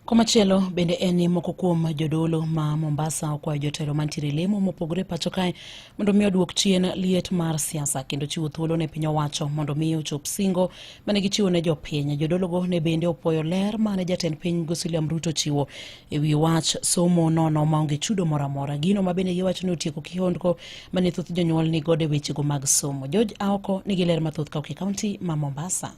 Komachielo bende en ni moko kuom jodolo ma Mombasa okwayo jotelo mantiere lemo mopogore pacho kae mondo mi oduok chien liet mar siasa kendo chiwo thuolo ne piny owacho mondo mi ochop singo mane gichiwo ne jopiny. Jodologo ne bende opwoyo ler mane jatend piny William Ruto chiwo e wi wach somo nono maonge chudo moro amora. Gino ma bende giwacho ni otieko kihondko mane thoth jonyuol ni godo e wechego mag somo. George Aoko nigi ler mathoth ka ok e kaunti ma Mombasa.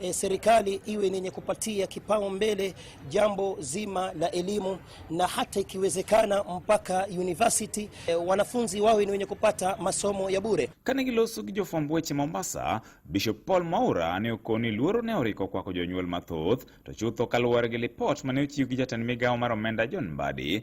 e, serikali iwe ni yenye kupatia kipaumbele jambo zima la elimu na hata ikiwezekana mpaka university e, wanafunzi wawe ni wenye kupata masomo ya bure. Kanigilosu kijofwamb weche Mombasa, Bishop Paul Maura ne okoni luoro ne oriko kwako jonyuol mathoth to chutho kaluwore gi lipot mane ochiw gi jatend migawo mar omenda John Mbadi